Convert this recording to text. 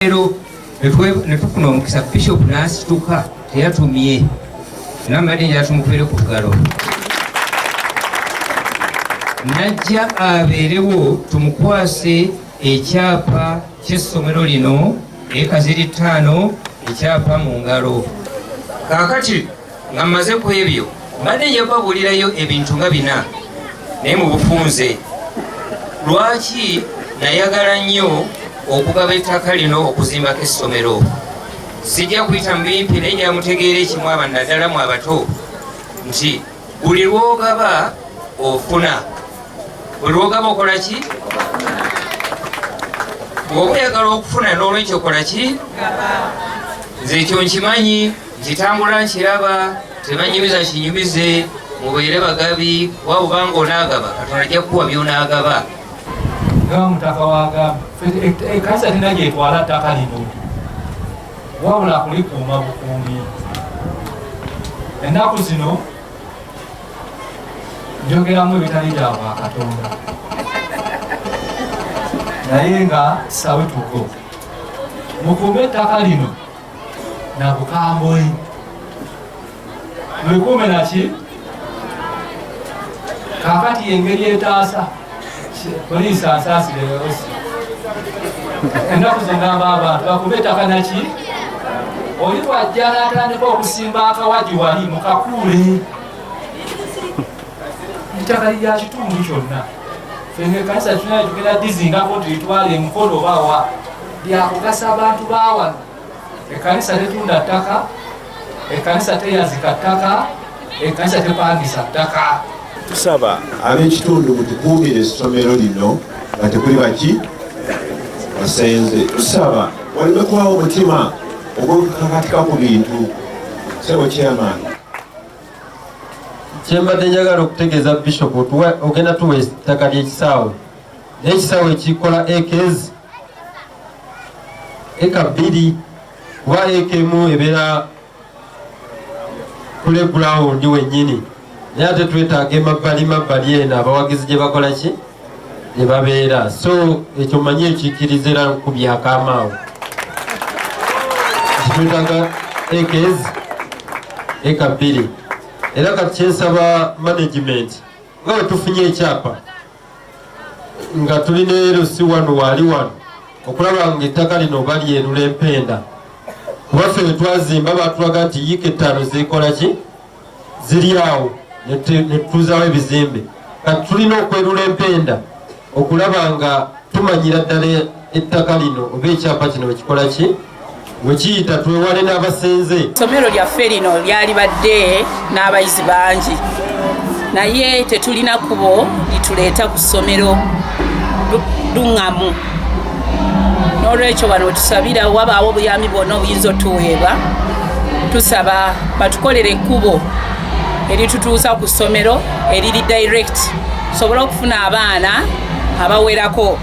leero netufuna omukisa bishop nasituka teyatumye namadi njatumukwere ku bugalo najja abeerewo tumukwase ekyapa kyessomero lino ekaziri ttaano ekyapa mu ngalo kakati nga mmaze ku ebyo mbadde nja kubabuulirayo ebintu nga bina naye mu bufunze lwaki nayagala nnyo okugaba ettaka lino okuzimbako essomero sijja kuyita mu bimpi naye nyamutegeera ekimu aba naddala mu abato nti buli lwogaba ofuna buli lwogaba okola ki bwoba oyagala okufuna n'olwekyo okola ki nze ekyo nkimanyi Kitambula nkiraba tebanyumiza kinyumize mubeere bagabi kuba bubanga onaagaba katonda ajja kukuwa byonaagaba nga mutaka wagamba ekanisa e, e, tena gyetwala ttaka lino wabula kulikuuma bukuumi ennaku zino njogeramu ebitali bya bwakatonda naye nga sawe tugo mukuume ettaka lino na bukambwe mwekuume naki kakati engeri etaasa poliisi asaasire osi ennaku zengamba abantu bakuba ettaka naki oli wajja natandika okusimba akawagi wali mukakuule ettaka lya kitundu kyonna fenga ekanisa tunayo tugenda dizingako tulitwale emukolo obawa byakugasa abantu bawano ekanisa tetunda ttaka ekanisa teyazika ttaka ekanisa tepangisa ttaka tusaba ab'ekitundu mutukuumire essomero lino nga tekuli baki basenze tusaba waleme kubawo omutima ogwokukakatika ku bintu sebo chairman kyembadde njagala okutegeeza bishop ogenda tuwa ettaka ly'ekisaawe n'ekisaawe ekikola ekezi eka bbiri kuba eka emu ebeera kule gulawundi wennyini naye ate twetaaga emabbali mabbali eno abawagizi gye bakola ki gye babeera so ekyo manyi ekikkiriza era ku byakamaawo kitwetaaga eka ezi eka bbiri era kati kyensaba management nga wetufunye ekyapa nga tuli ne LC wano waali wano okulaba nga ettaka lino balyerula empenda kubaffe wetwazimba batulaga nti yiika ettaano zikola ki ziri awo netutuuzawo ebizimbe kati tulina okwerula empenda okulaba nga tumanyira ddala ettaka lino oba ekyapa kino wekikola ki wekiyita twewale n'abasenze somero lyaffe lino lyalibadde n'abayizi bangi naye tetulina kubo lituleeta ku ssomero luŋŋamu n'olwekyo wano wetusabira wabaawo obuyambi bwona obuyinza otuweebwa tusaba batukolere ekkubo eritutuusa ku ssomero eriri direct tusobole okufuna abaana abawerako